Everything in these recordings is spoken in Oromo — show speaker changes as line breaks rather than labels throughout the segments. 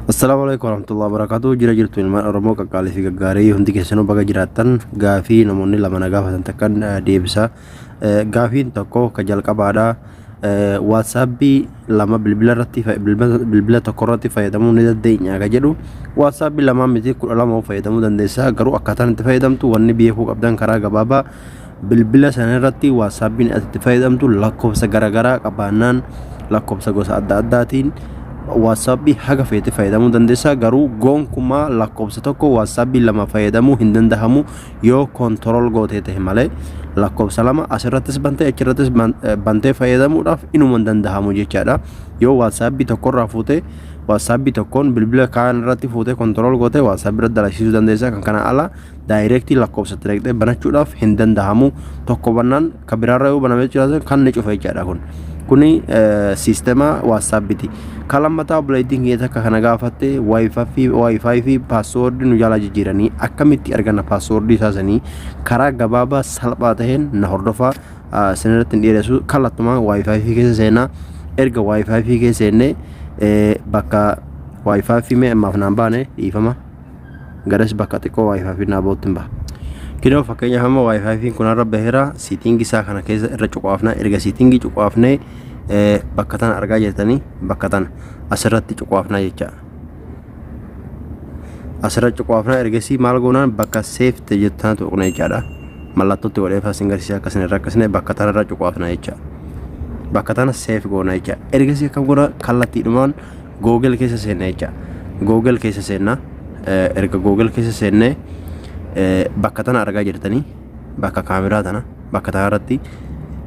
Assalamu alaikum warahmatullahi wabarakatuh. Jira jirtu ilmaan Oromoo qaqqaalii fi gaggaarii hundi keessanuu baga jiraattan gaafii namoonni lama na gaafatan takkan deebisa. Gaafiin tokko ka jalqabaadha. Waatsaapii lama bilbila irratti bilbila tokko irratti fayyadamuu ni dandeenya akka jedhu waatsaapii lamaa miti kudha lama fayyadamuu dandeessa garuu akkaataan itti fayyadamtu wanni beekuu qabdan karaa gabaabaa bilbila sana irratti waatsaapiin ati itti fayyadamtu lakkoofsa garaagaraa qabaannaan lakkoofsa gosa adda addaatiin waatsaapii haga feete fayyadamuu dandeessa garuu gonkumaa lakkoofsa tokko waatsaapii lama fayyadamuu hin danda'amu yoo control gootee ta'e malee lakkoofsa lama asirrattis bantee achirrattis ban- eh, bantee fayyadamuudhaaf inuma hin danda'amu jechaadha yoo waatsaappi tokkorraa fuutee waatsaappi tokkoon bilbila kaan irratti fuutee control gootee waatsaappi irratti dalagsisuu dandeessa kan kana ala daayireektii lakkoofsa itti dhaqxee banachuudhaaf hin danda'amu tokko bannaan Kan biraarra yoo baname jechuudha kan ni cufa jechaadha kun. Kuni siistema waatsaappiti. Kan lammataa obboleettiin kiyya takka kana gaafatte waayifaayi fi paaswoordii nu jaalaa jijjiiranii akkamitti arganna paaswoordii isaa sanii karaa gabaabaa salphaa ta'een na hordofaa sinirratti hin dheeressu kallattumaan waayifaayi fi keessa seenaa erga waayifaayi fi keessa seennee bakka waayifaayi fi mee ammaaf naan baane dhiifama. garas bakka xiqqoo wifi fi naabootti hin baha. Kinoo fakkeenyaaf amma wifi fi kun irra baheera siitingi isaa kana keessa irra cuqaafna erga siitingi cuqaafnee bakka tana argaa jirtanii bakka tana asirratti cuqaafnaa jecha. Asirra cuqaafnaa ergasii maal goonaan bakka seefte jettu tana tuqna jechaadha. Mallattootti godhee faasin garsiisa akkasina irra akkasina bakka tana irra cuqaafna jecha. Bakka tana seef goona jecha. Ergasii akkam goona kallattiidhumaan Google keessa seenna jecha. Google keessa seenna. Erga Google keessa seennee bakka tana argaa jirtanii bakka kaameraa tana bakka tana irratti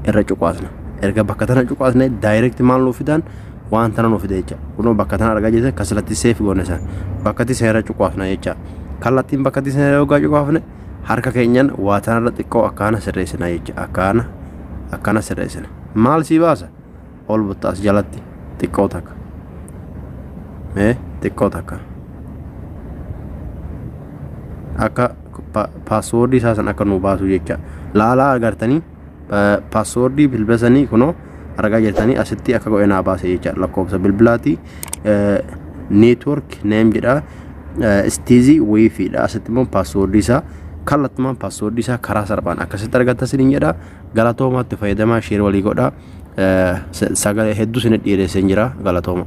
irra cuqaasna. Erga bakka tana cuqaasne daayirekti maal nuuf fidaan waan tana nuuf fida jecha. Kunoo bakka tana argaa jirtan kasalatti seef goone san bakkatti seera cuqaasna jecha. Kallattiin bakkatti seera yoggaa cuqaafne harka keenyan waa tanarra xiqqoo akkaana sirreessina jecha akkaana akkaana sirreessina. Maal sii baasa? ol butta as jalatti xiqqoo takka mee xiqqoo takka akka paaswoordii isaa san akka nuu baasuu jecha laalaa agartanii paaswoordii bilbila sanii kunoo argaa jirtanii asitti akka godhe naa baase jecha lakkoofsa bilbilaatii neetwork neem jedha istiizii wiifiidha asitti immoo paaswoordii isaa kallattumaan paaswoordii isaa karaa salphaan akkasitti argatta sinin jedha galatoomaatti fayyadamaa sheer walii godhaa sagalee hedduu isin dhiyeesseen jira galatooma.